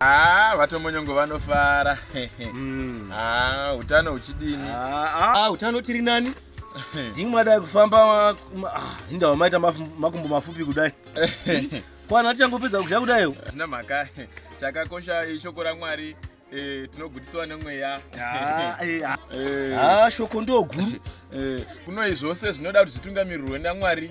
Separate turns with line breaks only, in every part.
Ah, vatomonyongo
vanofara mm. ah, utano huchidini ah, ah, utano
tiri nani ndingi madai kufamba ah, inda wamaita makumbo mafupi kudai kwana tichangopedza kudya kudaiwo zvina mhaka
chakakosha ishoko ramwari eh, tinogutisiwa nemweya ah, eh, ah.
Eh. shoko ndoguru kunoi
zvose zvinoda kuti zvitungamirirwe namwari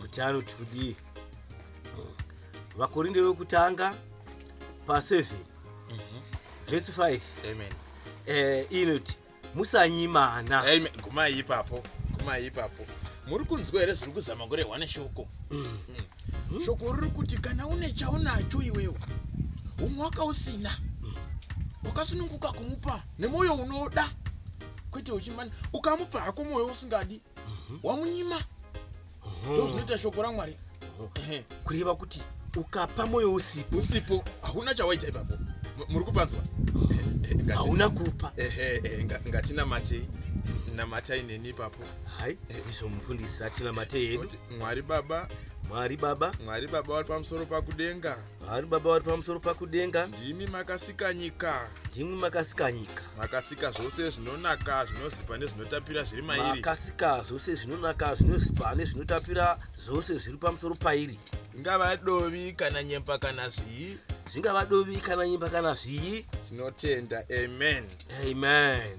kuti anoti kudii vakorinde vekutanga pa 7 Mhm. vhesi 5 Amen. eh,
inoti
musanyimana Amen. Gumai
ipapo. Gumai ipapo. Muri kunzwa here zviri kuzama kurehwa neshoko? Mm. Mm. Shoko riri kuti kana une chaunacho iwewe umwe wakausina wakasununguka kumupa nemwoyo unoda kwete uchimana ukamupa hako mwoyo usingadi mhm. wamunyima mhm. ndozvinoita shoko ramwari mhm. kureva
kuti ukapa mwoyo usipo usipo hauna chawaita
ipapo muri kupanzwa
hauna kupa
ngatinamatei namatai neni ipapo hai izvo
mufundisi atinamatei hedu mwari baba
mwari baba mwari baba vari pamusoro pakudenga Vari baba vari pamusoro pakudenga. Ndimi makasika nyika. Ndimi makasika nyika. Makasika zvose zvinonaka zvinozipa nezvinotapira zviri mairi. Makasika zvose
zvinonaka zvinozipa nezvinotapira zvose zviri pamusoro pairi. Ingava dovi
kana nyemba kana zvii zvingava dovi kana nyimba kana zvii tinotenda amen amen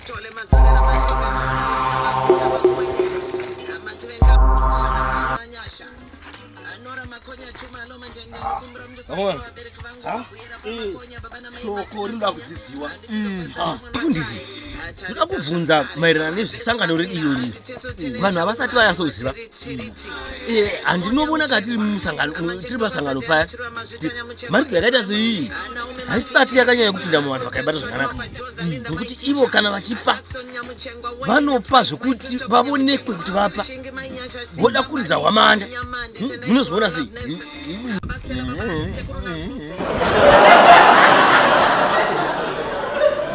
shoko rinoda kudzidziwa mfundisi ndoda kubvunza maererano nezvesangano redu iyori vanhu havasati vayatsoziva Eh, handinovona ka tiri musangantiri masangano paya mharidzo yakaita seiyi haisati yakanyanya kupinda muvanhu vakaibata zvakanaka nokuti ivo kana vachipa vanopa zvekuti vavonekwe kuti vapa voda kuridza hwamanda hmm, munozviona sei